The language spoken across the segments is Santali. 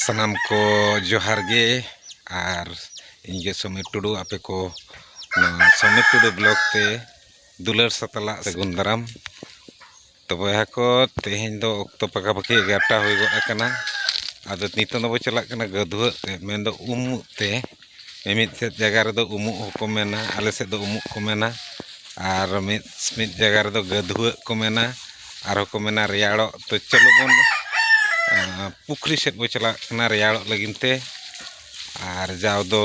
ᱥᱟᱱᱟᱢ ᱠᱚ ᱡᱚᱦᱟᱨ ᱜᱮ ᱟᱨ ᱤᱧ ᱜᱮ ᱥᱚᱢᱤᱨ ᱴᱩᱰᱩ ᱟᱯᱮ ᱠᱚ ᱱᱚᱣᱟ ᱥᱚᱢᱤᱨ ᱴᱩᱰᱩ ᱵᱞᱚᱜᱽ ᱛᱮ ᱫᱩᱞᱟᱹᱲ ᱥᱟᱛᱞᱟᱜ ᱥᱟᱹᱜᱩᱱ ᱫᱟᱨᱟᱢ ᱛᱚ ᱵᱚᱭᱦᱟ ᱠᱚ ᱛᱮᱦᱮᱧ ᱫᱚ ᱚᱠᱛᱚ ᱯᱟᱠᱟ ᱯᱟᱠᱤ ᱮᱜᱟᱨᱚᱴᱟ ᱦᱩᱭ ᱜᱚᱫ ᱟᱠᱟᱱᱟ ᱟᱫᱚ ᱱᱤᱛᱚᱜ ᱫᱚᱵᱚ ᱪᱟᱞᱟᱜ ᱠᱟᱱᱟ ᱜᱟᱹᱫᱷᱩᱣᱟᱹᱜ ᱛᱮ ᱢᱮᱱᱫᱚ ᱩᱢᱩᱜ ᱛᱮ ᱢᱤᱢᱤᱫ ᱥᱮᱫ ᱡᱟᱭᱜᱟ ᱨᱮᱫᱚ ᱩᱢᱩᱜ ᱦᱚᱸᱠᱚ ᱢᱮᱱᱟ ᱟᱞᱮ ᱥᱮᱫ ᱫᱚ ᱩᱢᱩᱜ ᱠᱚ ᱢᱮᱱᱟ ᱟᱨ ᱢᱤᱫ ᱢᱤᱫ ᱡᱟᱭᱜᱟ ᱨᱮᱫᱚ ᱜᱟᱹᱫᱷᱩᱣᱟᱹᱜ ᱠᱚ ᱢᱮᱱᱟ ᱟᱨᱦᱚᱸ ᱠᱚ ᱢᱮᱱᱟ ᱨᱮᱭᱟᱲᱚᱜ ᱛᱚ ᱪᱚᱞᱚ ᱵᱚᱱ ᱯᱩᱠᱷᱨᱤ ᱥᱮᱫ ᱵᱚᱱ ᱪᱟᱞᱟᱜ ᱠᱟᱱᱟ ᱨᱮᱭᱟᱲᱚᱜ ᱞᱟᱹᱜᱤᱫ ᱛᱮ ᱟᱨ ᱡᱟᱣ ᱫᱚ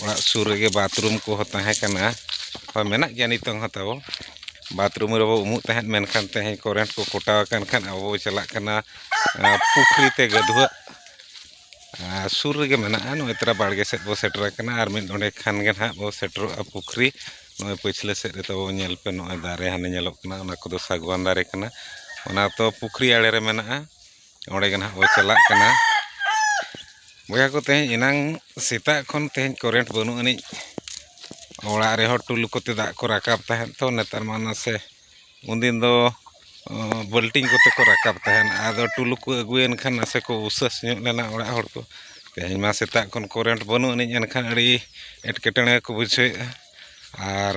ᱚᱲᱟᱜ ᱥᱩᱨ ᱨᱮᱜᱮ ᱵᱟᱛᱷᱨᱩᱢ ᱠᱚᱦᱚᱸ ᱛᱟᱦᱮᱸ ᱠᱟᱱᱟ ᱦᱳᱭ ᱢᱮᱱᱟᱜ ᱜᱮᱭᱟ ᱱᱤᱛᱚᱝ ᱦᱚᱸ ᱛᱟᱵᱚ ᱵᱟᱛᱷᱨᱩᱢ ᱨᱮᱵᱚᱱ ᱩᱢᱩᱜ ᱛᱟᱦᱮᱸᱫ ᱢᱮᱱᱠᱷᱟᱱ ᱛᱮᱦᱮᱧ ᱠᱚᱨᱮᱱᱴ ᱠᱚ ᱠᱚᱴᱟᱣ ᱟᱠᱟᱱ ᱠᱷᱟᱱ ᱟᱵᱚ ᱵᱚᱱ ᱪᱟᱞᱟᱜ ᱠᱟᱱᱟ ᱯᱩᱠᱷᱨᱤ ᱛᱮ ᱜᱟᱹᱫᱷᱩᱣᱟᱹᱜ ᱥᱩᱨ ᱨᱮᱜᱮ ᱢᱮᱱᱟᱜᱼᱟ ᱱᱚᱜᱼᱚᱸᱭ ᱛᱚᱨᱟ ᱵᱟᱲᱜᱮ ᱥᱮᱫ ᱵᱚᱱ ᱥᱮᱴᱮᱨ ᱟᱠᱟᱱᱟ ᱟᱨ ᱢᱤᱫ ᱰᱚᱸᱰᱮᱠ ᱠᱷᱟᱱ ᱜᱮ ᱦᱟᱸᱜ ᱵᱚᱱ ᱥᱮᱴᱮᱨᱚᱜᱼᱟ ᱯᱩᱠᱷᱨᱤ ᱱᱚᱜᱼᱚᱸᱭ ᱯᱟᱹᱪᱷᱞᱟᱹ ᱥᱮᱫ ᱨᱮ ᱛᱟᱵᱚᱱ ᱧᱮᱞ ᱯᱮ ᱱᱚᱜᱼᱚᱸᱭ ᱫᱟᱨᱮ ᱦᱟᱱᱮ ᱧᱮᱞᱚᱜ ᱠᱟᱱᱟ ᱚᱱᱟ ᱠᱚᱫᱚ ᱥᱟᱹᱜᱩᱣᱟᱱ ᱫᱟᱨᱮ ᱠᱟᱱᱟ ᱚᱱᱟ ᱫᱚ ᱯᱩᱠᱷᱨᱤ ᱟᱬᱮ ᱨᱮ ᱢᱮᱱᱟᱜᱼᱟ ᱚᱸᱰᱮ ᱜᱮ ᱦᱟᱸᱜ ᱵᱚᱱ ᱪᱟᱞᱟᱜ ᱠᱟᱱᱟ ᱵᱚᱭᱦᱟ ᱠᱚ ᱛᱮᱦᱮᱧ ᱮᱱᱟᱝ ᱥᱮᱛᱟᱜ ᱠᱷᱚᱱ ᱛᱮᱦᱮᱧ ᱠᱟᱨᱮᱱᱴ ᱵᱟᱹᱱᱩᱜ ᱟᱹᱱᱤᱡ ᱚᱲᱟᱜ ᱨᱮᱦᱚᱸ ᱴᱩᱞᱩ ᱠᱚᱛᱮ ᱫᱟᱜ ᱠᱚ ᱨᱟᱠᱟᱵ ᱛᱟᱦᱮᱸᱫ ᱛᱚ ᱱᱮᱛᱟᱨ ᱢᱟ ᱱᱟᱥᱮ ᱩᱱ ᱫᱤᱱ ᱫᱚ ᱵᱟᱹᱞᱴᱤᱱ ᱠᱚᱛᱮ ᱠᱚ ᱨᱟᱠᱟᱵ ᱛᱟᱦᱮᱱ ᱟᱫᱚ ᱴᱩᱞᱩ ᱠᱚ ᱟᱹᱜᱩᱭᱮᱱ ᱠᱷᱟᱱ ᱱᱟᱥᱮ ᱠᱚ ᱩᱥᱟᱹᱥ ᱧᱚᱜ ᱞᱮᱱᱟ ᱚᱲᱟᱜ ᱦᱚᱲ ᱠᱚ ᱛᱮᱦᱮᱧ ᱢᱟ ᱥᱮᱛᱟᱜ ᱠᱷᱚᱱ ᱠᱟᱨᱮᱱᱴ ᱵᱟᱹᱱᱩᱜ ᱟᱹᱱᱤᱡ ᱮᱱᱠᱷᱟᱱ ᱟᱹᱰᱤ ᱮᱴᱠᱮᱴᱚᱬᱮ ᱠᱚ ᱵᱩᱡᱷᱟᱹᱣᱮᱫᱼᱟ ᱟᱨ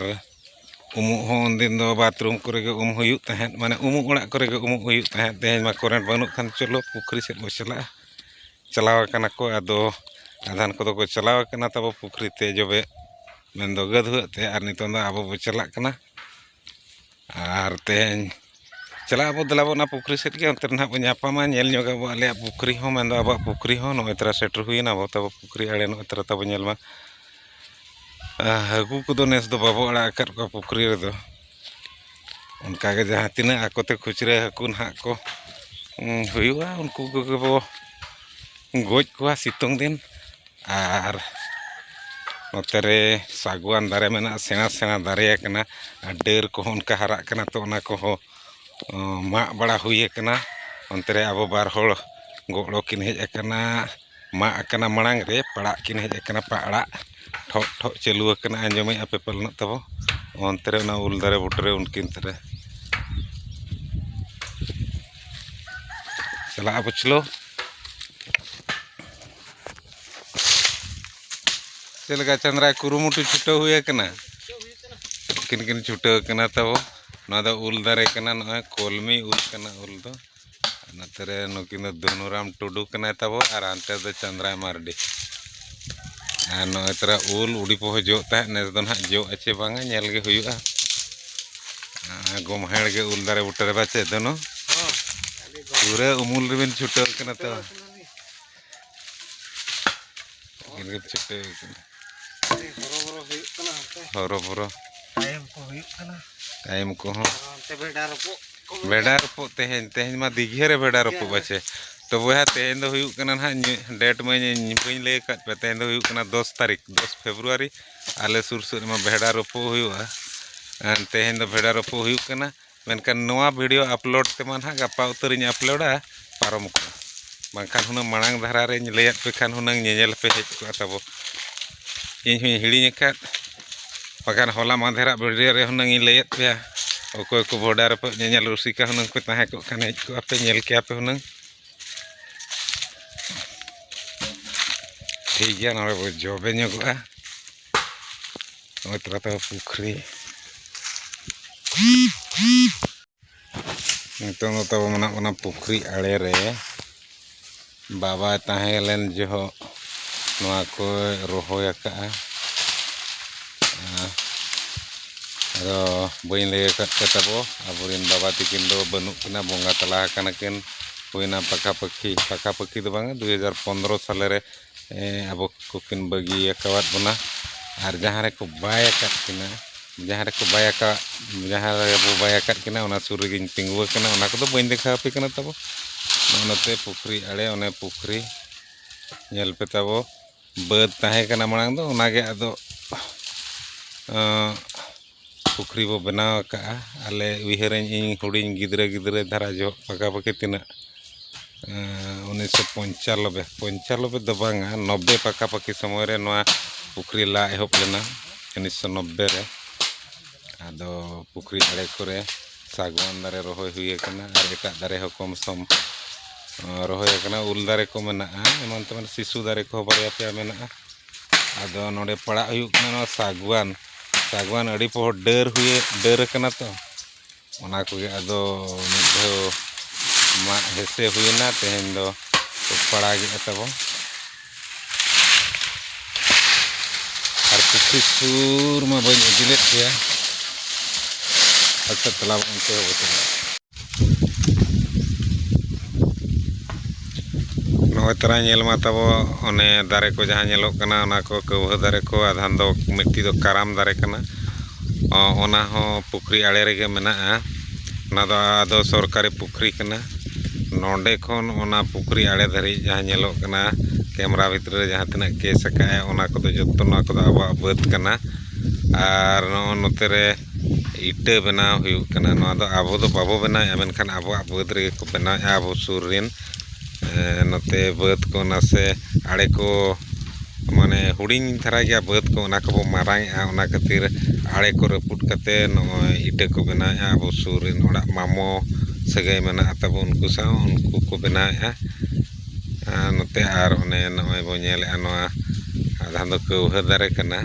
ᱩᱢᱩᱜ ᱦᱚᱸ ᱩᱱ ᱫᱤᱱ ᱫᱚ ᱵᱟᱛᱷᱨᱩᱢ ᱠᱚᱨᱮ ᱜᱮ ᱩᱢ ᱦᱩᱭᱩᱜ ᱛᱟᱦᱮᱸᱫ ᱢᱟᱱᱮ ᱩᱢᱩᱜ ᱚᱲᱟᱜ ᱠᱚᱨᱮ ᱜᱮ ᱩᱢᱩᱜ ᱦᱩᱭᱩᱜ ᱛᱟᱦᱮᱸᱫ ᱛᱮᱦᱮᱧ ᱢᱟ ᱠᱟᱨᱮᱱᱴ ᱵᱟᱹᱱᱩᱜ ᱠᱷᱟᱱ ᱪᱚᱞᱚ ᱯᱩᱠᱷᱨᱤ ᱥᱮᱫ ᱵᱚᱱ ᱪᱟᱞᱟᱜᱼᱟ ᱪᱟᱞᱟᱣ ᱠᱟᱱᱟ ᱠᱚ ᱟᱫᱚ ᱟᱫᱷᱟᱱ ᱠᱚᱫᱚ ᱠᱚ ᱪᱟᱞᱟᱣ ᱠᱟᱱᱟ ᱛᱟᱵᱚ ᱯᱩᱠᱷᱨᱤ ᱛᱮ ᱡᱚᱵᱮ ᱢᱮᱱᱫᱚ ᱜᱟᱹᱫᱷᱩᱣᱟᱹᱜ ᱛᱮ ᱟᱨ ᱱᱤᱛᱚᱝ ᱫᱚ ᱟᱵᱚ ᱵᱚᱱ ᱪᱟᱞᱟᱜ ᱠᱟᱱᱟ ᱟᱨ ᱛᱮᱦᱮᱧ ᱪᱟᱞᱟᱜ ᱟᱵᱚ ᱫᱮᱞᱟ ᱵᱚ ᱚᱱᱟ ᱯᱩᱠᱷᱨᱤ ᱥᱮᱫ ᱜᱮ ᱚᱱᱛᱮ ᱨᱮ ᱱᱟᱦᱟᱜ ᱵᱚᱱ ᱧᱟᱯᱟᱢᱟ ᱧᱮᱞ ᱧᱚᱜᱽ ᱟᱵᱚ ᱟᱞᱮᱭᱟᱜ ᱯᱩᱠᱷᱨᱤ ᱦᱚᱸ ᱢᱮᱱᱫᱚ ᱟᱵᱚᱣᱟᱜ ᱯᱩᱠᱷᱨᱤ ᱦᱚᱸ ᱱᱚᱜᱼᱚᱸᱭ ᱛᱚᱨᱟ ᱥᱮᱴᱮᱨ ᱦᱩᱭᱮᱱᱟ ᱟᱵᱚ ᱛᱟᱵᱚ ᱯᱩᱠᱷᱨᱤ ᱟᱲᱮ ᱱᱚᱜᱼᱚᱸᱭ ᱛᱚᱨᱟ ᱛᱟᱵᱚ ᱧᱮᱞ ᱢᱟ ᱦᱟᱹᱠᱩ ᱠᱚᱫᱚ ᱱᱮᱥ ᱫᱚ ᱵᱟᱵᱚ ᱟᱲᱟᱜ ᱟᱠᱟᱫ ᱠᱚᱣᱟ ᱯᱩᱠᱷᱨᱤ ᱨᱮᱫᱚ ᱚᱱᱠᱟ ᱜᱮ ᱡᱟᱦᱟᱸ ᱛᱤᱱᱟᱹᱜ ᱟᱠᱚ ᱛᱮ ᱠᱷᱩᱪᱨᱟᱹ ᱦᱟᱹᱠᱩ ᱱᱟᱦᱟᱜ ᱠᱚ ᱦᱩᱭᱩᱜᱼᱟ ᱩᱱᱠᱩ ᱠᱚᱜᱮ ᱵᱚ ᱜᱚᱡ ᱠᱚᱣᱟ ᱥᱤᱛᱩᱝ ᱫᱤᱱ ᱟᱨ ᱱᱚᱛᱮ ᱨᱮ ᱥᱟᱹᱜᱩᱣᱟᱱ ᱫᱟᱨᱮ ᱢᱮᱱᱟᱜᱼᱟ ᱥᱮᱬᱟ ᱥᱮᱬᱟ ᱫᱟᱨᱮ ᱟᱠᱟᱱᱟ ᱟᱨ ᱰᱟᱹᱨ ᱠᱚᱦᱚᱸ ᱚᱱᱠᱟ ᱦᱟᱨᱟᱜ ᱠᱟᱱᱟ ᱛᱚ ᱚᱱᱟ ᱠᱚᱦᱚᱸ ᱢᱟᱜ ᱵᱟᱲᱟ ᱦᱩᱭ ᱟᱠᱟᱱᱟ ᱚᱱᱛᱮ ᱨᱮ ᱟᱵᱚ ᱵᱟᱨ ᱦᱚᱲ ᱜᱚᱲᱚ ᱠᱤᱱ ᱦᱮᱡ ᱟᱠᱟᱱᱟ ᱢᱟᱜ ᱟᱠᱟᱱᱟ ᱢᱟᱲᱟᱝ ᱨᱮ ᱯᱟᱲᱟᱜ ᱠᱤᱱ ᱦᱮᱡ ᱟᱠᱟᱱᱟ ᱯᱟᱲᱟᱜ ᱴᱷᱚᱜ ᱴᱷᱚᱜ ᱪᱟᱹᱞᱩ ᱟᱠᱟᱱᱟ ᱟᱸᱡᱚᱢᱮᱜ ᱟᱯᱮ ᱯᱟᱞᱮᱱ ᱛᱟᱵᱚ ᱚᱱᱛᱮ ᱨᱮ ᱚᱱᱟ ᱩᱞ ᱫᱟᱨᱮ ᱵᱩᱴᱟᱹᱨᱮ ᱩᱱᱠᱤᱱ ᱛᱟᱨᱮ ᱪᱟᱞᱟᱜᱼᱟ ᱯᱟᱹᱪᱷᱞᱟᱹ ᱪᱮᱫ ᱞᱮᱠᱟ ᱪᱟᱸᱫᱽᱨᱟᱭ ᱠᱩᱨᱩᱢᱩᱴᱩ ᱪᱷᱩᱴᱟᱹᱣ ᱦᱩᱭ ᱟᱠᱟᱱᱟ ᱠᱤᱱ ᱠᱤᱱ ᱪᱷᱩᱴᱟᱹᱣ ᱟᱠᱟᱱᱟ ᱛᱟᱵᱚ ᱱᱚᱣᱟ ᱫᱚ ᱩᱞ ᱫᱟᱨᱮ ᱠᱟᱱᱟ ᱱᱚᱜᱼᱚᱭ ᱠᱚᱞᱢᱤ ᱩᱞ ᱠᱟᱱᱟ ᱩᱞ ᱫᱚ ᱱᱚᱛᱮ ᱨᱮ ᱱᱩᱠᱤᱱ ᱫᱚ ᱫᱷᱩᱱᱩᱨᱟᱢ ᱴᱩᱰᱩ ᱠᱟᱱᱟᱭ ᱛᱟᱵᱚ ᱟᱨ ᱦᱟᱱᱛᱮ ᱫᱚ ᱪᱟᱸᱫᱽᱨᱟᱭ ᱢᱟᱨᱰᱤ ᱟᱨ ᱱᱚᱜᱼᱚᱭ ᱛᱚᱨᱟ ᱩᱞ ᱩᱰᱤ ᱯᱚᱦᱚ ᱡᱚᱜ ᱛᱟᱦᱮᱸᱫ ᱱᱮᱥ ᱫᱚ ᱱᱟᱦᱟᱜ ᱡᱚᱜᱼᱟ ᱪᱮ ᱵᱟᱝᱟ ᱧᱮᱞ ᱜᱮ ᱦᱩᱭᱩᱜᱼᱟ ᱜᱚᱢᱦᱮᱲ ᱜᱮ ᱩᱞ ᱫᱟᱨᱮ ᱵᱩᱴᱟᱹ ᱨᱮ ᱵᱟᱪᱮᱫ ᱫᱚᱱᱚ ᱯᱩᱨᱟᱹ ᱩᱢᱩᱞ ᱨᱮᱵᱤᱱ ᱪᱷᱩᱴᱟᱹᱣ ᱠᱟᱱᱟ ᱛᱚ ᱜᱮᱨ ᱪᱟᱹᱴᱟᱹᱣ ᱠᱟᱱᱟ ᱦᱚᱨᱚᱵᱚᱨᱚ ᱦᱩᱭᱩᱜ ᱠᱟᱱᱟ ᱦᱚᱨᱚᱵᱚᱨᱚ ᱛᱟᱭᱚᱢ ᱠᱚ ᱦᱩᱭᱩᱜ ᱠᱟᱱᱟ ᱛᱟᱭᱚᱢ ᱠᱚᱦᱚᱸ ᱚᱱᱛᱮ ᱵᱷᱮᱰᱟ ᱨᱚᱯᱚᱜ ᱵᱷᱮᱰᱟ ᱨᱚᱯᱚᱜ ᱛᱮᱦᱮᱧ ᱛᱮᱦᱮᱧ ᱢᱟ ᱫᱤᱜᱷᱮ ᱨᱮ ᱵᱷᱮᱰᱟ ᱨᱚᱯᱚᱜ ᱵᱟᱪᱮ ᱛᱚ ᱵᱚᱭᱦᱟ ᱛᱮᱦᱮᱧ ᱫᱚ ᱦᱩᱭᱩᱜ ᱠᱟᱱᱟ ᱱᱟᱦᱟᱜ ᱰᱮᱴ ᱢᱟ ᱵᱟᱹᱧ ᱞᱟᱹᱭ ᱟᱠᱟᱫ ᱯᱮ ᱛᱮᱦᱮᱧ ᱫᱚ ᱦᱩᱭᱩᱜ ᱠᱟᱱᱟ ᱫᱚᱥ ᱛᱟᱹᱨᱤᱠᱷ ᱫᱚᱥ ᱯᱷᱮᱵᱽᱨᱩᱣᱟᱨᱤ ᱟᱞᱮ ᱥᱩᱨ ᱥᱩᱨ ᱨᱮᱢᱟ ᱵᱷᱮᱰᱟ ᱨᱚᱯᱚᱜ ᱦᱩᱭᱩᱜᱼᱟ ᱛᱮᱦᱮᱧ ᱫᱚ ᱵᱷᱮᱰᱟ ᱨᱚᱯᱚᱜ ᱦᱩᱭᱩᱜ ᱠᱟᱱᱟ ᱢᱮᱱᱠᱷᱟᱱ ᱱᱚᱣᱟ ᱵᱷᱤᱰᱤᱭᱳ ᱟᱯᱞᱳᱰ ᱛᱮᱢᱟ ᱱᱟᱦᱟᱜ ᱜᱟᱯᱟ ᱩᱛᱟᱹᱨᱤᱧ ᱟᱯᱞᱳᱰᱟ ᱯᱟᱨᱚᱢ ᱠᱚᱜᱼᱟ ᱵᱟᱝᱠᱷᱟᱱ ᱦᱩᱱᱟᱹᱝ ᱢᱟᱲᱟᱝ ᱫᱷᱟᱨᱟ ᱨᱮᱧ ᱞᱟᱹᱭᱟᱫ ᱯᱮ ᱠᱷᱟᱱ ᱦᱩᱱᱟᱹᱝ ᱧᱮᱧᱮᱞ ᱯᱮ ᱦᱮᱡ ᱠᱚᱜᱼᱟ ᱛᱟᱵᱚ ᱤᱧ ᱦᱚᱧ ᱦᱤᱲᱤᱧ ᱟᱠᱟᱫ ᱵᱟᱠᱷᱟᱱ ᱦᱚᱞᱟ ᱢᱟᱫᱷᱮᱨᱟᱜ ᱵᱷᱤᱰᱤᱭᱳ ᱨᱮ ᱦᱩᱱᱟᱹᱝ ᱤᱧ ᱞᱟᱹᱭᱟᱫ ᱯᱮᱭᱟ ᱚᱠᱚᱭ ᱠᱚ ᱵᱷᱚᱰᱟ ᱨᱮᱯᱮ ᱧᱮᱧᱮᱞ ᱨᱩᱥᱤᱠᱟ ᱦᱩᱱᱟᱹᱝ ᱯᱮ ᱛᱟᱦᱮᱸ ᱠᱚᱜ ᱠᱷᱟᱱ ᱦᱮᱡ ᱠᱚᱜᱼᱟ ᱯᱮ ᱧᱮᱞ ᱠᱮᱭᱟ ᱯᱮ ᱦᱩᱱᱟᱹᱝ ᱴᱷᱤᱠ ᱜᱮᱭᱟ ᱱᱚᱰᱮ ᱵᱚ ᱡᱚᱵᱮ ᱧᱚᱜᱚᱜᱼᱟ ᱱᱚᱜᱼᱚᱭ ᱛᱟᱞᱟ ᱛᱮ ᱯᱩᱠᱷᱨᱤ ᱱᱤᱛᱚᱝ ᱫᱚ ᱛᱟᱵᱚ ᱢᱮᱱᱟᱜ ᱵᱚᱱᱟ ᱯᱩᱠᱷᱨᱤ ᱟᱲᱮ ᱨᱮ ᱵᱟᱵᱟᱭ ᱛᱟᱦᱮᱸ ᱞᱮᱱ ᱡᱚᱦᱚᱜ ᱱᱚᱣᱟ ᱠᱚᱭ ᱨᱚᱦᱚᱭ ᱟᱠᱟᱫᱼᱟ ᱟᱫᱚ ᱵᱟᱹᱧ ᱞᱟᱹᱭ ᱟᱠᱟᱫ ᱯᱮ ᱛᱟᱵᱚ ᱟᱵᱚᱨᱮᱱ ᱵᱟᱵᱟ ᱛᱤᱠᱤᱱ ᱫᱚ ᱵᱟᱹᱱᱩᱜ ᱠᱤᱱᱟ ᱵᱚᱸᱜᱟ ᱛᱟᱞᱟ ᱟᱠᱟᱱᱟ ᱠᱤᱱ ᱦᱩᱭᱱᱟ ᱯᱟᱠᱟᱯᱟᱠᱤ ᱯᱟᱠᱟᱯᱟᱠᱤ ᱫᱚ ᱵᱟᱝᱟ ᱫᱩ ᱦᱟᱡᱟᱨ ᱯᱚᱱᱨᱚ ᱥᱟᱞᱮ ᱨᱮ ᱟᱵᱚ ᱠᱚᱠᱤᱱ ᱵᱟᱹᱜᱤ ᱟᱠᱟᱫ ᱵᱚᱱᱟ ᱟᱨ ᱡᱟᱦᱟᱸ ᱨᱮᱠᱚ ᱵᱟᱭ ᱟᱠᱟᱫ ᱠᱤᱱᱟ ᱡᱟᱦᱟᱸ ᱨᱮᱠᱚ ᱵᱟᱭ ᱟᱠᱟᱫ ᱡᱟᱦᱟᱸ ᱨᱮᱵᱚ ᱵᱟᱭ ᱟᱠᱟᱫ ᱠᱤᱱᱟ ᱚᱱᱟ ᱥᱩᱨ ᱨᱮᱜᱮᱧ ᱛᱤᱸᱜᱩ ᱟᱠᱟᱱᱟ ᱚᱱᱟ ᱠᱚᱫᱚ ᱵᱟᱹᱧ ᱫᱮᱠᱷᱟᱣ ᱟᱯᱮ ᱠᱟᱱᱟ ᱛᱟᱵᱚ ᱱᱚᱜᱼᱚ ᱱᱚᱛᱮ ᱯᱩᱠᱷᱨᱤ ᱟᱬᱮ ᱚᱱᱮ ᱯᱩᱠᱷᱨᱤ ᱧᱮᱞ ᱯᱮ ᱛᱟᱵᱚ ᱵᱟᱹᱫᱽ ᱛᱟᱦᱮᱸ ᱠᱟᱱᱟ ᱢᱟᱲᱟᱝ ᱫᱚ ᱚᱱᱟᱜᱮ ᱟᱫᱚ ᱯᱩᱠᱷᱨᱤ ᱵᱚᱱ ᱵᱮᱱᱟᱣ ᱟᱠᱟᱫᱼᱟ ᱟᱞᱮ ᱩᱭᱦᱟᱹᱨᱟᱹᱧ ᱤᱧ ᱦᱩᱰᱤᱧ ᱜᱤᱫᱽᱨᱟᱹ ᱜᱤᱫᱽᱨᱟᱹ ᱫᱷᱟᱨᱟ ᱡᱚᱦᱚᱜ ᱯᱟᱠᱟ ᱯᱟᱹᱠᱤ ᱛᱤᱱᱟᱹᱜ ᱩᱱᱤᱥᱥᱚ ᱯᱚᱧᱪᱟᱱᱚᱵᱵᱳᱭ ᱯᱚᱧᱪᱟᱱᱚᱵᱵᱳᱭ ᱫᱚ ᱵᱟᱝᱟ ᱱᱚᱵᱵᱳᱭ ᱯᱟᱠᱟ ᱯᱟᱹᱠᱤ ᱥᱚᱢᱚᱭ ᱨᱮ ᱱᱚᱣᱟ ᱯᱩᱠᱷᱨᱤ ᱞᱟ ᱮᱦᱚᱵ ᱞᱮᱱᱟ ᱩᱱᱤᱥᱥᱚ ᱱᱚᱵᱵᱳᱭ ᱨᱮ ᱟᱫᱚ ᱯᱩᱠᱷᱨᱤ ᱫᱷᱟᱨᱮ ᱠᱚᱨᱮ ᱥᱟᱜᱽᱣᱟᱱ ᱫᱟᱨᱮ ᱨᱚᱦᱚᱭ ᱦᱩᱭ ᱠᱟᱱᱟ ᱟᱨ ᱮᱴᱟᱜ ᱫᱟᱨᱮ ᱦᱚᱸ ᱠᱚᱢ ᱥᱚᱢ ᱨᱚᱦᱚᱭ ᱠᱟᱱᱟ ᱩᱞ ᱫᱟᱨᱮ ᱠᱚ ᱢᱮᱱᱟᱜᱼᱟ ᱮᱢᱟᱱ ᱛᱮᱢᱟᱱ ᱥᱤᱥᱩ ᱫᱟᱨᱮ ᱠᱚᱦᱚᱸ ᱵᱟᱨᱭᱟ ᱯᱮᱭᱟ ᱢᱮᱱᱟᱜᱼᱟ ᱟᱫᱚ ᱱᱚᱰᱮ ᱯᱟᱲᱟᱜ ᱦᱩᱭᱩᱜ ᱠᱟᱱᱟ ᱱᱚᱣᱟ ᱥᱟᱜᱽᱣᱟᱱ ᱥᱟᱜᱽᱣᱟᱱ ᱟᱹᱰᱤ ᱯᱚᱦᱚᱨ ᱰᱟᱹᱨ ᱦᱩᱭᱮ ᱰᱟᱹᱨ ᱟᱠᱟᱱᱟ ᱛᱚ ᱚᱱᱟ ᱠᱚᱜᱮ ᱟᱫᱚ ᱢᱤᱫ ᱫᱷᱟᱣ ᱢᱟᱜ ᱦᱮᱸᱥᱮ ᱦᱩᱭᱮᱱᱟ ᱛᱮᱦᱮᱧ ᱫᱚ ᱯᱟᱲᱟᱜᱮᱫᱼᱟ ᱛᱟᱵᱚᱱ ᱟᱨ ᱯᱩᱠᱷᱨᱤ ᱥᱩᱨ ᱢᱟ ᱵᱟᱹᱧ ᱤᱫᱤ ᱞᱮᱫ ᱯᱮᱭᱟ ᱟᱪᱪᱷᱟ ᱛᱟᱞᱟᱵᱚᱱ ᱚᱱᱛᱮ ᱦᱚᱸᱵᱚ ᱪᱟᱞᱟᱜᱼᱟ ᱱᱚᱜᱼᱚᱭ ᱛᱚᱨᱟ ᱧᱮᱞ ᱢᱟ ᱛᱟᱵᱚ ᱚᱱᱮ ᱫᱟᱨᱮ ᱠᱚ ᱡᱟᱦᱟᱸ ᱧᱮᱞᱚᱜ ᱠᱟᱱᱟ ᱚᱱᱟ ᱠᱚ ᱠᱟᱹᱣᱦᱟᱹ ᱫᱟᱨᱮ ᱠᱚ ᱟᱫᱷᱟᱱ ᱫᱚ ᱢᱤᱫᱴᱤᱡ ᱫᱚ ᱠᱟᱨᱟᱢ ᱫᱟᱨᱮ ᱠᱟᱱᱟ ᱚᱱᱟ ᱦᱚᱸ ᱯᱩᱠᱷᱨᱤ ᱟᱬᱮ ᱨᱮᱜᱮ ᱢᱮᱱᱟᱜᱼᱟ ᱚᱱᱟ ᱫᱚ ᱟᱫᱚ ᱥᱚᱨᱠᱟᱨᱤ ᱯᱩᱠᱷᱨᱤ ᱠᱟᱱᱟ ᱱᱚᱰᱮ ᱠᱷᱚᱱ ᱚᱱᱟ ᱯᱩᱠᱷᱨᱤ ᱟᱬᱮ ᱫᱷᱟᱹᱨᱤᱡ ᱡᱟᱦᱟᱸ ᱧᱮᱞᱚᱜ ᱠᱟᱱᱟ ᱠᱮᱢᱨᱟ ᱵᱷᱤᱛᱨᱤ ᱨᱮ ᱡᱟᱦᱟᱸ ᱛᱤᱱᱟᱹᱜ ᱠᱮᱥ ᱟᱠᱟᱫᱼᱟᱭ ᱚᱱᱟ ᱠᱚᱫᱚ ᱡᱚᱛᱚ ᱱᱚᱣᱟ ᱠᱚᱫᱚ ᱟᱵᱚᱣᱟᱜ ᱵᱟᱹᱫᱽ ᱠᱟᱱᱟ ᱟᱨ ᱱᱚᱜᱼᱚᱭ ᱱᱚᱛᱮ ᱨᱮ ᱤᱴᱟᱹ ᱵᱮᱱᱟᱣ ᱦᱩᱭᱩᱜ ᱠᱟᱱᱟ ᱱᱚᱣᱟ ᱫᱚ ᱟᱵᱚ ᱫᱚ ᱵᱟᱵᱚ ᱵᱮᱱᱟᱣᱮᱫᱼᱟ ᱢᱮᱱᱠᱷᱟᱱ ᱟᱵᱚᱣᱟᱜ ᱵᱟᱹᱫᱽ ᱨᱮᱜᱮ ᱠᱚ ᱵᱮᱱᱟᱣᱮᱫᱼᱟ ᱟᱵᱚ ᱥᱩᱨ ᱨᱮᱱ ᱱᱚᱛᱮ ᱵᱟᱹᱫᱽ ᱠᱚ ᱱᱟᱥᱮ ᱟᱲᱮ ᱠᱚ ᱢᱟᱱᱮ ᱦᱩᱰᱤᱧ ᱫᱷᱟᱨᱟ ᱜᱮᱭᱟ ᱵᱟᱹᱫᱽ ᱠᱚ ᱚᱱᱟ ᱠᱚᱵᱚ ᱢᱟᱨᱟᱝᱮᱫᱼᱟ ᱚᱱᱟ ᱠᱷᱟᱹᱛᱤᱨ ᱟᱲᱮ ᱠᱚ ᱨᱟᱹᱯᱩᱫ ᱠᱟᱛᱮ ᱱᱚᱜᱼᱚᱸᱭ ᱤᱴᱟᱹ ᱠᱚ ᱵᱮᱱᱟᱣᱮᱫᱼᱟ ᱟᱵᱚ ᱥᱩᱨ ᱨᱮᱱ ᱦᱚᱲᱟᱜ ᱢᱟᱢᱚ ᱥᱟᱹᱜᱟᱹᱭ ᱢᱮᱱᱟᱜᱼᱟ ᱛᱟᱵᱚᱱ ᱩᱱᱠᱩ ᱥᱟᱶ ᱩᱱᱠᱩ ᱠᱚ ᱵᱮᱱᱟᱣᱮᱫᱼᱟ ᱟᱨ ᱱᱚᱛᱮ ᱟᱨ ᱚᱱᱮ ᱱᱚᱜᱼᱚᱭ ᱵᱚᱱ ᱧᱮᱞᱮᱫᱼᱟ ᱱᱚᱣᱟ ᱟᱫᱷᱟ ᱫᱚ ᱠᱟᱹᱣᱦᱟᱹ ᱫᱟᱨᱮ ᱠᱟᱱᱟ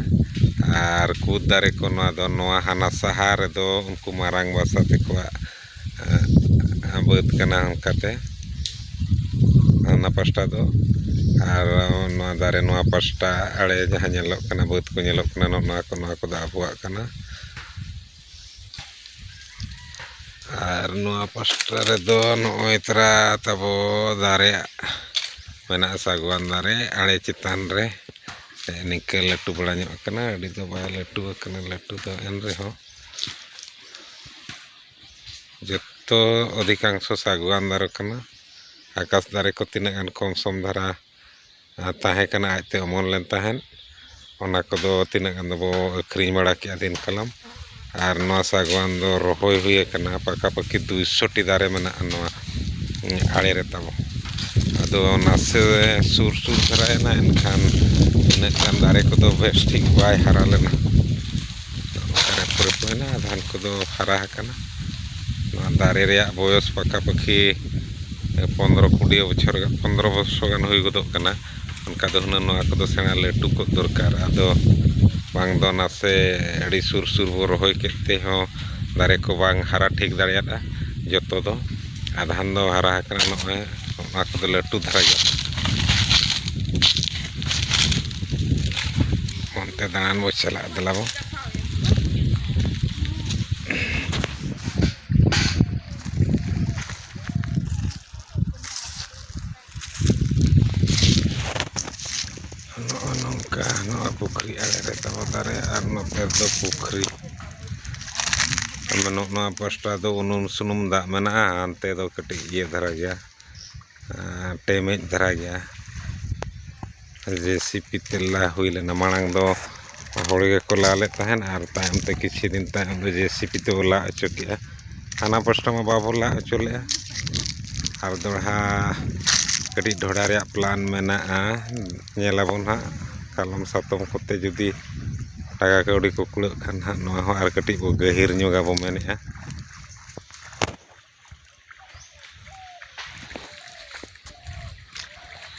ᱟᱨ ᱠᱩᱫ ᱫᱟᱨᱮ ᱠᱚ ᱱᱚᱣᱟ ᱫᱚ ᱱᱚᱣᱟ ᱦᱟᱱᱟ ᱥᱟᱦᱟ ᱨᱮᱫᱚ ᱩᱱᱠᱩ ᱢᱟᱨᱟᱝ ᱵᱟᱥᱟ ᱛᱟᱠᱚᱣᱟᱜ ᱵᱟᱹᱫᱽ ᱠᱟᱱᱟ ᱚᱱᱠᱟᱛᱮ ᱦᱟᱱᱟ ᱯᱟᱥᱴᱟ ᱫᱚ ᱟᱨ ᱚᱱᱟ ᱫᱟᱨᱮ ᱱᱚᱣᱟ ᱯᱟᱥᱴᱟ ᱟᱲᱮ ᱡᱟᱦᱟᱸ ᱧᱮᱞᱚᱜ ᱠᱟᱱᱟ ᱵᱟᱹᱫᱽ ᱠᱚ ᱧᱮᱞᱚᱜ ᱠᱟᱱᱟ ᱱᱚᱜᱼᱚ ᱱᱚᱣᱟ ᱠᱚ ᱱᱚᱣᱟ ᱠᱚᱫᱚ ᱟᱵᱚᱣᱟᱜ ᱠᱟᱱᱟ ᱟᱨ ᱱᱚᱣᱟ ᱯᱟᱥᱴᱟ ᱨᱮᱫᱚ ᱱᱚᱜᱼᱚᱭ ᱛᱚᱨᱟ ᱛᱟᱵᱚ ᱫᱟᱨᱮ ᱢᱮᱱᱟᱜᱼᱟ ᱥᱟᱜᱽᱣᱟᱱ ᱫᱟᱨᱮ ᱟᱲᱮ ᱪᱮᱛᱟᱱ ᱨᱮ ᱱᱤᱝᱠᱟᱹ ᱞᱟᱹᱴᱩ ᱵᱟᱲᱟ ᱧᱚᱜ ᱠᱟᱱᱟ ᱟᱹᱰᱤ ᱫᱚ ᱵᱟᱭ ᱞᱟᱹᱴᱩ ᱟᱠᱟᱱᱟ ᱞᱟᱹᱴᱩ ᱫᱚ ᱮᱱ ᱨᱮᱦᱚᱸ ᱡᱚᱛᱚ ᱚᱫᱷᱤᱠᱟᱝᱥᱚ ᱥᱟᱜᱽᱣᱟᱱ ᱫᱟᱨᱮ ᱠᱟᱱᱟ ᱟᱠᱟᱥ ᱫᱟᱨᱮ ᱠᱚ ᱛᱤᱱᱟᱹᱜ ᱜᱟᱱ ᱠᱚᱢ ᱥᱚᱢ ᱫᱷᱟᱨᱟ ᱛᱟᱦᱮᱸ ᱠᱟᱱᱟ ᱟᱡ ᱛᱮ ᱚᱢᱚᱱ ᱞᱮᱱ ᱛᱟᱦᱮᱸᱫ ᱚᱱᱟ ᱠᱚᱫᱚ ᱛᱤᱱᱟᱹᱜ ᱜᱟᱱ ᱫᱚᱵᱚ ᱟᱹᱠᱷᱨᱤᱧ ᱵᱟᱲᱟ ᱠᱮᱜᱼᱟ ᱫᱤᱱ ᱠᱟᱞᱚᱢ ᱟᱨ ᱱᱚᱣᱟ ᱥᱟᱜᱽᱣᱟᱱ ᱫᱚ ᱨᱚᱦᱚᱭ ᱦᱩᱭ ᱠᱟᱱᱟ ᱯᱟᱠᱟ ᱯᱟᱹᱠᱤ ᱫᱩᱭ ᱥᱚ ᱴᱤ ᱫᱟᱨᱮ ᱢᱮᱱᱟᱜᱼᱟ ᱱᱚᱣᱟ ᱟᱲᱮ ᱨᱮ ᱛᱟᱵᱚ ᱟᱫᱚ ᱱᱟᱥᱮ ᱥᱩᱨ ᱥᱩᱨ ᱫᱷᱟᱨᱟᱭᱮᱱᱟ ᱮᱱᱠᱷᱟᱱ ᱤᱱᱟᱹᱜ ᱜᱟᱱ ᱫᱟᱨᱮ ᱠᱚᱫᱚ ᱵᱮᱥ ᱴᱷᱤᱠ ᱵᱟᱭ ᱦᱟᱨᱟ ᱞᱮᱱᱟ ᱫᱟᱨᱮ ᱠᱚᱨᱮ ᱠᱚ ᱢᱮᱱᱟᱜᱼᱟ ᱟᱫᱷᱟᱱ ᱠᱚᱫᱚ ᱦᱟᱨᱟ ᱟᱠᱟᱱᱟ ᱱᱚᱣᱟ ᱫᱟᱨᱮ ᱨᱮᱭᱟᱜ ᱵᱚᱭᱚᱥ ᱯᱟᱠᱟ ᱯᱟᱹᱠᱤ ᱯᱚᱱᱨᱚ ᱠᱩᱲᱤ ᱵᱚᱪᱷᱚᱨ ᱜᱟᱱ ᱯᱚᱱᱨᱚ ᱵᱚᱨᱥᱚ ᱜᱟᱱ ᱦᱩᱭ ᱜᱚᱫᱚᱜ ᱠᱟᱱᱟ ᱚᱱᱠᱟ ᱫᱚ ᱦᱩᱱᱟᱹᱝ ᱱᱚᱣᱟ ᱠᱚᱫᱚ ᱥᱮᱬᱟ ᱞᱟᱹᱴᱩ ᱠᱚᱜ ᱫᱚᱨᱠᱟᱨ ᱟᱫᱚ ᱵᱟᱝ ᱫᱚ ᱱᱟᱥᱮ ᱟᱹᱰᱤ ᱥᱩᱨ ᱥᱩᱨ ᱵᱚᱱ ᱨᱚᱦᱚᱭ ᱠᱮᱫ ᱛᱮᱦᱚᱸ ᱫᱟᱨᱮ ᱠᱚ ᱵᱟᱝ ᱦᱟᱨᱟ ᱴᱷᱤᱠ ᱫᱟᱲᱮᱭᱟᱫᱼᱟ ᱡᱚᱛᱚ ᱫᱚ ᱟᱫᱷᱟᱱ ᱫᱚ ᱦᱟᱨᱟ ᱟᱠᱟᱱᱟ ᱱᱚᱜᱼᱚᱭ ᱚᱱᱟ ᱠᱚᱫᱚ ᱞᱟᱹᱴᱩ ᱫᱷᱟᱨᱟ ᱜᱮᱭᱟ ᱚᱱᱛᱮ ᱫᱟᱬᱟᱱ ᱵᱚᱱ ᱪᱟᱞᱟᱜᱼᱟ ᱫᱮᱞᱟ ᱵᱚᱱ ᱯᱩᱠᱷᱨᱤ ᱟᱲᱮ ᱨᱮ ᱛᱟᱵᱚ ᱫᱟᱨᱮ ᱟᱨ ᱱᱚᱛᱮ ᱫᱚ ᱯᱩᱠᱷᱨᱤ ᱟᱫᱚ ᱱᱚᱜᱼᱚ ᱱᱚᱣᱟ ᱯᱟᱥᱴᱟ ᱫᱚ ᱩᱱᱩᱢ ᱥᱩᱱᱩᱢ ᱫᱟᱜ ᱢᱮᱱᱟᱜᱼᱟ ᱦᱟᱱᱛᱮ ᱫᱚ ᱠᱟᱹᱴᱤᱡ ᱤᱭᱟᱹ ᱫᱷᱟᱨᱟ ᱜᱮᱭᱟ ᱴᱮᱢᱮᱡ ᱫᱷᱟᱨᱟ ᱜᱮᱭᱟ ᱡᱮᱥᱤᱯᱤ ᱛᱮ ᱞᱟ ᱦᱩᱭ ᱞᱮᱱᱟ ᱢᱟᱲᱟᱝ ᱫᱚ ᱦᱚᱲ ᱜᱮᱠᱚ ᱞᱟ ᱞᱮᱫ ᱛᱟᱦᱮᱱ ᱟᱨ ᱛᱟᱭᱚᱢ ᱛᱮ ᱠᱤᱪᱷᱩ ᱫᱤᱱ ᱛᱟᱭᱚᱢ ᱫᱚ ᱡᱮᱥᱤᱯᱤ ᱛᱮᱠᱚ ᱞᱟ ᱦᱚᱪᱚ ᱠᱮᱜᱼᱟ ᱦᱟᱱᱟ ᱯᱟᱥᱴᱟ ᱢᱟ ᱵᱟᱵᱚ ᱞᱟ ᱦᱚᱪᱚ ᱞᱮᱜᱼᱟ ᱟᱨ ᱫᱚᱦᱲᱟ ᱠᱟᱹᱴᱤᱡ ᱰᱷᱚᱰᱟ ᱨᱮᱭᱟᱜ ᱯᱞᱟᱱ ᱢᱮᱱᱟᱜᱼᱟ ᱧᱮᱞ ᱟᱵᱚᱱ ᱦᱟᱸᱜ ᱠᱟᱞᱚᱢ ᱥᱟᱛᱚᱢ ᱠᱚᱛᱮ ᱡᱩᱫᱤ ᱴᱟᱠᱟ ᱠᱟᱹᱣᱰᱤ ᱠᱚ ᱠᱩᱲᱟᱹᱜ ᱠᱷᱟᱱ ᱦᱟᱸᱜ ᱱᱚᱣᱟ ᱦᱚᱸ ᱟᱨ ᱠᱟᱹᱴᱤᱡ ᱵᱚᱱ ᱜᱟᱹᱦᱤᱨ ᱧᱚᱜᱟ ᱵᱚᱱ ᱢᱮᱱᱮᱜᱼᱟ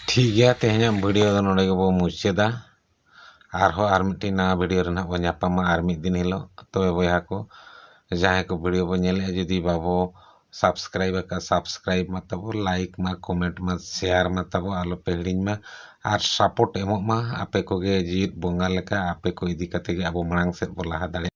ᱴᱷᱤᱠ ᱜᱮᱭᱟ ᱛᱮᱦᱮᱧᱟᱜ ᱵᱷᱤᱰᱤᱭᱳ ᱫᱚ ᱱᱚᱰᱮ ᱜᱮᱵᱚ ᱢᱩᱪᱟᱹᱫᱟ ᱟᱨᱦᱚᱸ ᱟᱨ ᱢᱤᱫᱴᱤᱡ ᱱᱟᱣᱟ ᱵᱷᱤᱰᱤᱭᱳ ᱨᱮ ᱱᱟᱦᱟᱜ ᱵᱚ ᱧᱟᱯᱟᱢᱟ ᱟᱨ ᱢᱤᱫ ᱫᱤᱱ ᱦᱤᱞᱳᱜ ᱛᱚᱵᱮ ᱵᱚᱭᱦᱟ ᱠᱚ ᱡᱟᱦᱟᱸᱭ ᱠᱚ ᱵᱷᱤᱰᱤᱭᱳ ᱵᱚ ᱧᱮᱞᱮᱫᱼᱟ ᱡᱩᱫᱤ ᱵᱟᱵᱚ ᱥᱟᱵᱥᱠᱨᱟᱭᱤᱵᱽ ᱟᱠᱟᱫ ᱥᱟᱵᱥᱠᱨᱟᱭᱤᱵᱽ ᱢᱟ ᱛᱟᱵᱚ ᱞᱟᱭᱤᱠ ᱢᱟ ᱠᱚᱢᱮᱱᱴ ᱢᱟ ᱥᱮᱭᱟᱨ ᱢᱟ ᱛᱟᱵᱚ ᱟᱞᱚᱯᱮ ᱦᱤᱲᱤᱧ ᱢᱟ ᱟᱨ ᱥᱟᱯᱳᱨᱴ ᱮᱢᱚᱜ ᱢᱟ ᱟᱯᱮ ᱠᱚᱜᱮ ᱡᱮᱣᱮᱫ ᱵᱚᱸᱜᱟ ᱞᱮᱠᱟ ᱟᱯᱮ ᱠᱚ ᱤᱫᱤ ᱠᱟᱛᱮᱫ ᱜᱮ ᱟᱵᱚ ᱢᱟᱲᱟᱝ ᱥᱮᱫ ᱵᱚ ᱞᱟᱦᱟ ᱫᱟᱲᱮᱭᱟᱜᱼᱟ